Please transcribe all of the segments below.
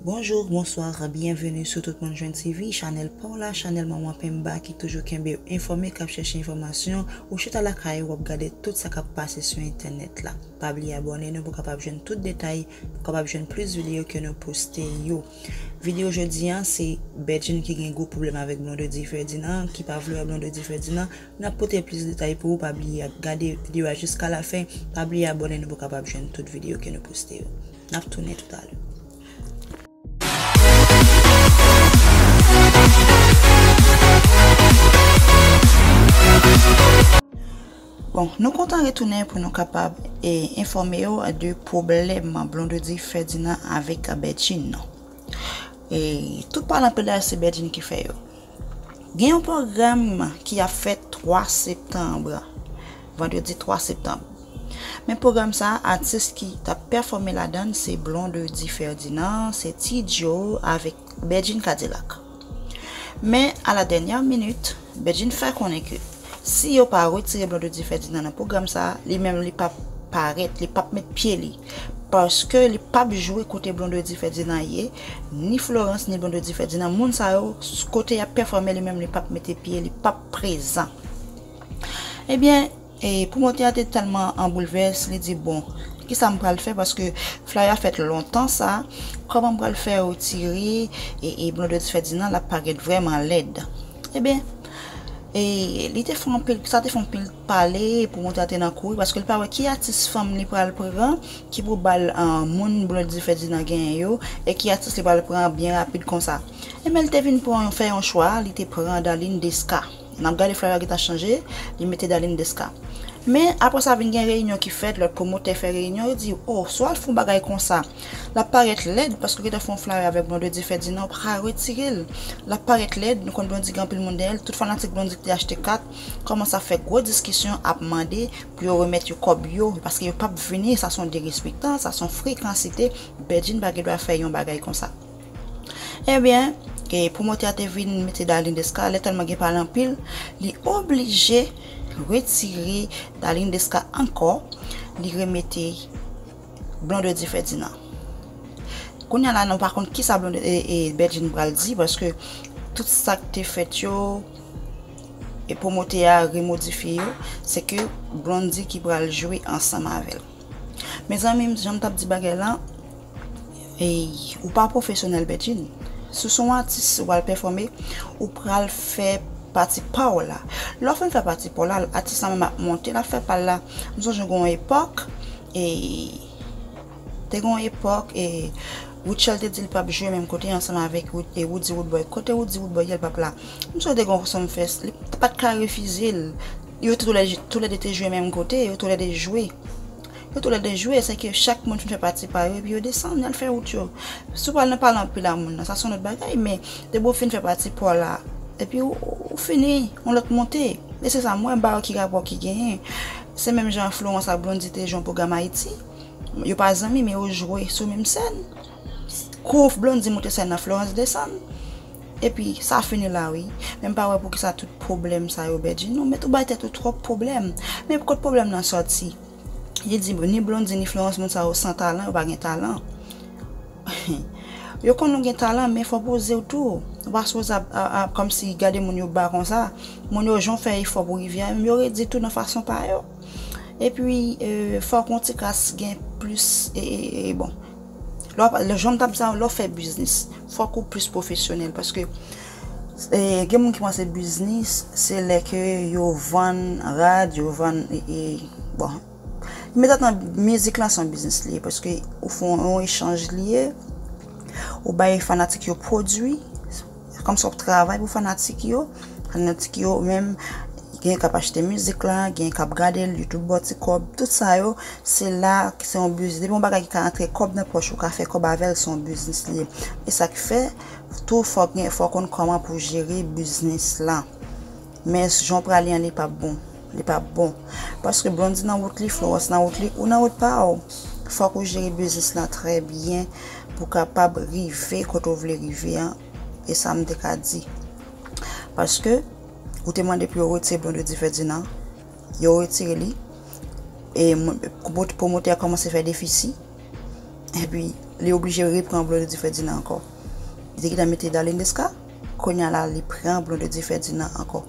Bonjour, bonsoir, bienvenue sou tout moun jwenn TV, chanèl paw la, chanèl manman penmba ki toujou kenbew enfòme kap chèche enfòmasyon, ou chita lakay ou wap gade tout sa kap pase sou entènèt la. Pa bliye abòne nou pou kapab jwenn tout detay, pou kapab jwenn plis videyo ke nou poste yo. Videyo jodi an se Bedjine ki gen gwo pwoblèm avèk Blondedy Ferdinand, ki pa vle wè Blondedy Ferdinand, nap pote plis detay pou ou pa bliye gade videyo a jiska lafen, pa bliye abòne nou pou kapab jwenn tout videyo ke nou poste yo. Nap tounen tout ale. Bon nou kontan retounen pou nou kapab e enfòme yo de pwoblèm Blondedy Ferdinand avèk Bedjine nan. E tout palan pale a se Bedjine ki fè yo. Gen yon pwogram ki ap fèt 3 septanb, vandredi 3 septanb. Men pwogram sa a atis ki t ap pèfòme ladan l se Blondedy Ferdinand, se Ti Djo avèk Bedjine Kadilak. Men a la dènyè minit, Bedjine fè konnen ke. Si yo pa retire Blondedy Ferdinand nan pwogram sa, li menm li pap parèt, li pap met pye li. Paske li pap jwe kote Blondedy Ferdinand ye, ni Florence ni Blondedy Ferdinand, moun sa yo kote yap pèfòme li menm li pap mete pye, li pap prezan. Ebyen, e pwomotè a te tèlman an boulvès, li di bon, kisa m pral fè paske flay la fèt lontan sa, kòman m pral fè retire e Blondedy Ferdinand la parèt vrèman lèd. Ebyen. E li te fè anpil, sa te fè anpil pale pou monte a te nan kouri paske li pa wè ki atis fanm li pral pran ki pou bal moun Blondedy Ferdinand genyen yo e ki atis li pral pran byen rapid konsa. Enben li te vin pran yon fè yon chwa, li te pran Darline Desca. N ap gade flyer a gentan chanje, li mete Darline Desca. Men aprè sa vin gen reyinyon ki fèt, lòt pwomotè fè reyinyon, yo di oh swa l fè yon bagay konsa. Lap parèt lèd paske ou gentan fè yon flare avèk blondedy fèdinan ou paka retirel lap parèt lèd nou konn blondy gen anpil moun dèyèl tout fanatik blondy kite achte kat kòmanse ap fè gwo diskisyon ap mande pou yo remèt yo kòb yo paske yo pap vini sa son derespektan sa son frekansite bedjine pa gendwa fè yon bagay konsa ebyen pwomotè a te vin mete darline desca lè tèlman gen pale anpil li oblije retire darline desca ankò li remete. Blondedy Ferdinand Kounya la nou pa konn kisa Bedjine pral di paske tout sak te fèt yo e pwomote a remodifye yo se ke Blondedy ki pral jwe ansanm avèl Mezanmi janm tap di bagay lan ou pa pwofesyonèl Bedjine si w son atis ou pral pèfòme ou pral fè pati pa w la lè w fin fè pati pa w la atis la menm ap monte lap fè pa l la m sonje gon epòk E te gen yon epòk e Rutshelle te di li pap jwe menm kote ansanm avèk Roody Roodboy. Kote Roody Roodboy ye li pap la? Mswe te gen yon Sum Fest, li pa t ka refize l. Yo tou lè de te jwe menm kote, yo tou lè de jwe. Yo tou lè de jwe, se ke chak moun fin fè pati pa yo epi yo desann, y al fè wout yo. Si w pral nan pale anpil a moun nan, sa se yon lòt bagay men depi w fin fè pati pa w la epi ou fini, yon lòt monte. E se sa m wè, m pa wè ki rapò ki genyen. Se menm jan Florence ak Blondy te jwe yon pwogram Ayiti. Yo pa zanmi men yo jwe sou menm sèn. Kou Blondy moute sèn nan Florence desann. Epi sa fini la wi. Men m pa wè poukisa tout pwoblèm sa yo Bedjine ou mèt ou bay tèt ou twòp pwoblèm. Men kot pwoblèm lan sòti. Li di ni Blondy ni Florence moun sa yo san talan yo pa gen talan. Yo konn ou gen talan men fò pozew tou ou pa sipoze ap kòmsi gade moun yo ba konsa moun yo jan w fè efò pou rive a menm yo redi tou nan fason pa yo epi fòk yon ti kras gen plis bon lè janm tap di sa lè w fè biznis fòk ou plis pwofesyonèl paske gen moun ki panse biznis se lè ke yo vann rad yo vann bon. Men tante nan mizik lan se yon biznis li ye paske ou fè yon echanj li ye, ou bay fanatik yo pwodui, se kòmsi w ap travay pou fanatik yo, fanatik yo menm gen k ap achte mizik lan, gen k ap gade l, youtube ba w ti kòb, tout sa yo se la ki se yon biznis, depi yon bagay ki ka antre kòb nan pòch ou, ka fè kòb avè l, se yon biznis li ye, e sa k fè tou fò w konn kòman pou w jere biznis lan. Men jan w prale an li pap bon li pap bon paske Blondy nan wout li Florence nan wout li ou nan wout pa w fòk ou jere biznis lan trè byen pou kapab rive kote w vle rive an e sa m te ka di paske ou te mande pou yo retire Blondedy Ferdinand yo retire li e pwomotè a kòmanse fè defisi epi li oblije repran Blondedy Ferdinand ankò li te gentan mete Darline Desca. Konya la li pran Blondedy Ferdinand ankò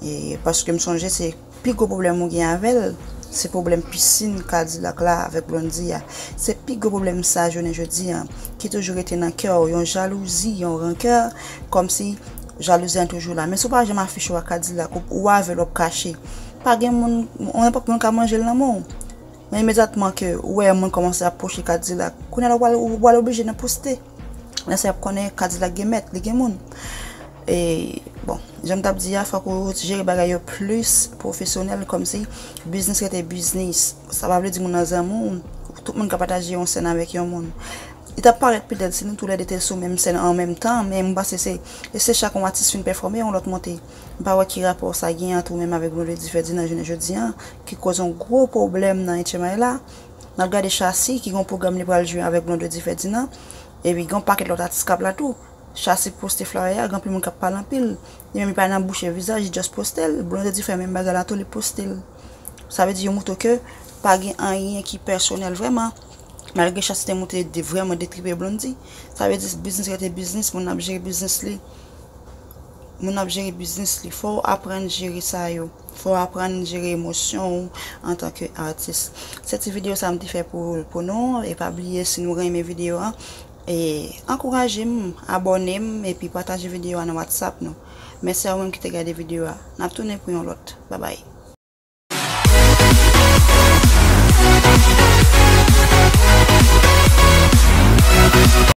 e paske m sonje se pi gwo pwoblèm ou gen avèl se pwoblèm pisin K-dilak la avèk Blondy a se pi gwo pwoblèm sa jounen jodi an ki toujou rete nan kè w yon jalouzi yon rankè kòmsi jalouzi an toujou la men si w pa janm afiche w ak K-dilak ou avèl wap kache pa gen moun yon nenpòt moun ka manje l nan men w men imedyatman ke ou wè yon moun kòmanse ap pwoche K-dilak kounye la ou pral oblije nan poste. Lè sa yap konnen kadilak gen mèt, li gen moun. E bon, jan m tap di a fòk ou jere bagay yo plis pwofesyonèl kòmsi biznis rete biznis. Sa pa vle di moun nan zanmi w, tout moun ka pataje yon sèn avèk yon moun. Li tap parèt pi lèd si nou tou lè de te sou menm sèn an menm tan, men m panse se se chak yon atis fin pèfòme yon lòt monte. M pa wè ki rapò sa gen ant ou menm avèk Vendredi Ferdinand jounen jodi an ki koz yon gwo pwoblèm nan Etchenmay la. N ap gade Shassy ki gen yon pwogram li pral jwe avèk Blondedy Ferdinand. Epi gen yon pakèt lòt atis k ap la tou. Shassy poste flyer a, gen anpil moun k ap pale anpil. Li menm li pa nan bouche vizaj, li just poste l. Blondedy fè menm bagay la tou, li poste l. Sa vle di yo moutre ke pa gen anyen ki pèsonèl vrèman. Malgre Shassy te moutre li vrèman detripe Blondy. Sa vle di biznis rete biznis, moun ap jere biznis li. Moun ap jere biznis li. Fò w aprann jere sa yo. Fò w aprann jere emosyon w antanke atis. Se ti video sa m te fè pou nou e pa bliye si nou renmen video an e ankouraje m abòne m epi pataje video a nan whatsapp nou. Mèsi a ou menm ki te gade video a. N ap tounen pou yon lòt. Babay.